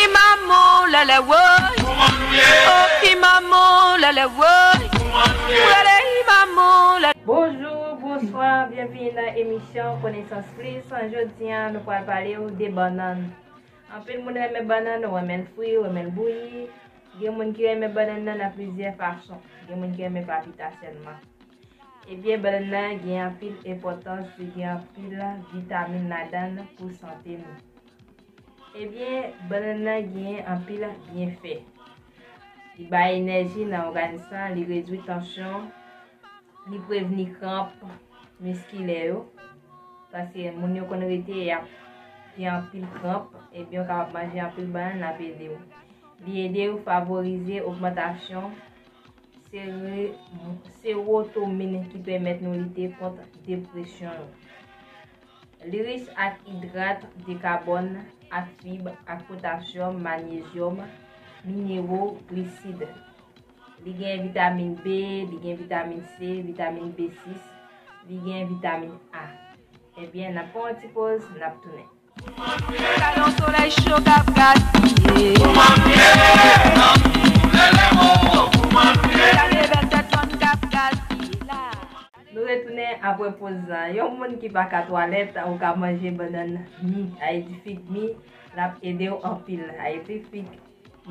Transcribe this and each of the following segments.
Imamo lèlè woy Kouman nou ye Oh imamo lèlè woy Kouman nou ye M rele imamo lèlè Bonjour, bonsoir, byenvini nan emisyon Konesans Plis, jodi an nou pral pale ou de bannann. Anpil moun renmen bannann, ou renmen l fri, ou renmen l bouyi, gen moun ki renmen bannann nan nan plizyè fason, gen moun ki renmen papita sèlman. Ebyen bannann nan gen anpil enpòtans li gen anpil vitamin ladann pou sante nou. Ebyen bannann nan gen anpil byenfè. Li bay enèji nan òganis lan, li redwi tansyon, li prevni kranp miskilè yo. Paske moun yo konn rete ap gen anpil kranp, ebyen ou kapab manje anpil bannann ap ede ou. Li ede ou favorize ogmantasyon Serotomin ki pèmèt nou lite kont depresyon. L'iris ak idrat de kabòn ak fib ak potasyòm, manyezyòm, minero, glisid. Li gen vitamin B, li gen vitamin C, vitamin B6, li gen vitamin A. Ebyen, eh nap pran yon ti poz, nap tounen. Nou retounen apre poz la. Yon moun ki pa ka twalèt ou ka manje bannann mi, Haiti fig mi, l ap ede w anpil. Haiti fig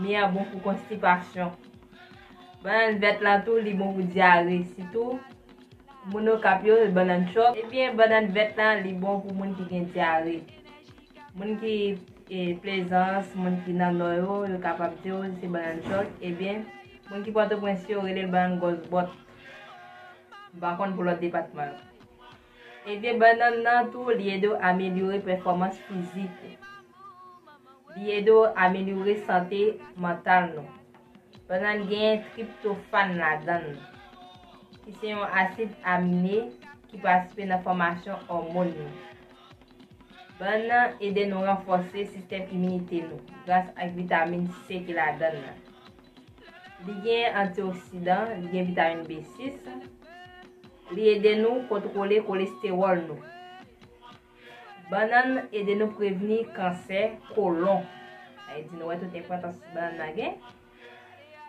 mi an bon pou konstipasyon. Bannann vèt lan tou li bon pou dyare sitou. Moun okap yo bannan chòk. Ebyen bannan vèt la li bon pou moun ki gen dyare. Moun ki plezans, moun ki nan nò yo, yo kapab diw se bannan chòk. Ebyen moun ki pòtoprens yo relel bannan gòs bòt. M pa konn pou lòt depatman yo. Ebyen bannan nan tou li ede w amelyore pèfòmans fizik ou. Li ede w amelyore sante mantal nou. Banann genyen triptofàn ladann, ki se yon asid amine ki patisipe nan fòmasyon òmon yo. Bannan ede nou ranfòse sistèm iminite nou gras ak vitamin C ki ladann nan. Li genyen antioksidan, li gen vitamin B6, li ede nou kontwole kolestewòl nou. Bannann ede nou prevni kansè kolon. Sa e di nou wè tout enpòtans bannann nan gen.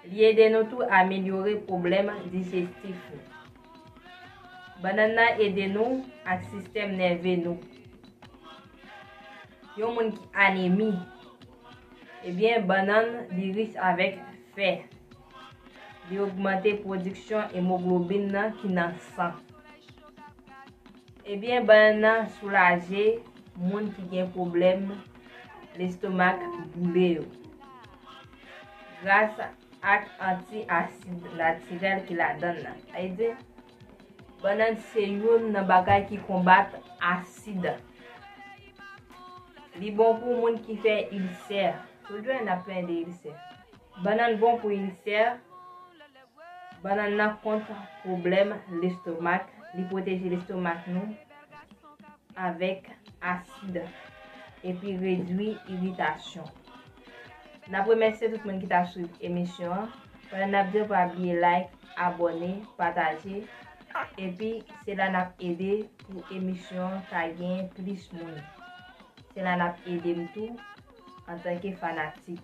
Li ede nou tou amelyore pwoblèm dijestif nou. Bannann nan ede nou ak sistèm nève nou. Yon moun ki anemi, ebyen bannann li rich avèk fè. Li ogmante pwodiksyon emoglobin nan ki nan san. Ebyen bann soulaje moun ki gen pwoblèm lestomak boule yo gras ak anti asid natirèl ki ladann nan. Sa vle di bannann se youn nan bagay ki konbat asid. Li bon pou moun ki fè ilsè. Tout jwè n ap plen de ilsè. Bannann bon pou ilsè, Bannann nan kont pwoblèm lestomak, li pwoteje lestomak nou avèk asid epi redwi iritasyon. N ap remèsye tout moun ki t ap swiv emisyon an, pandan n ap di yo pa bliye like, abòne, pataje, epi se la n ap ede pou emisyon an ka gen plis moun. Se la n ap ede m tou antanke fanatik.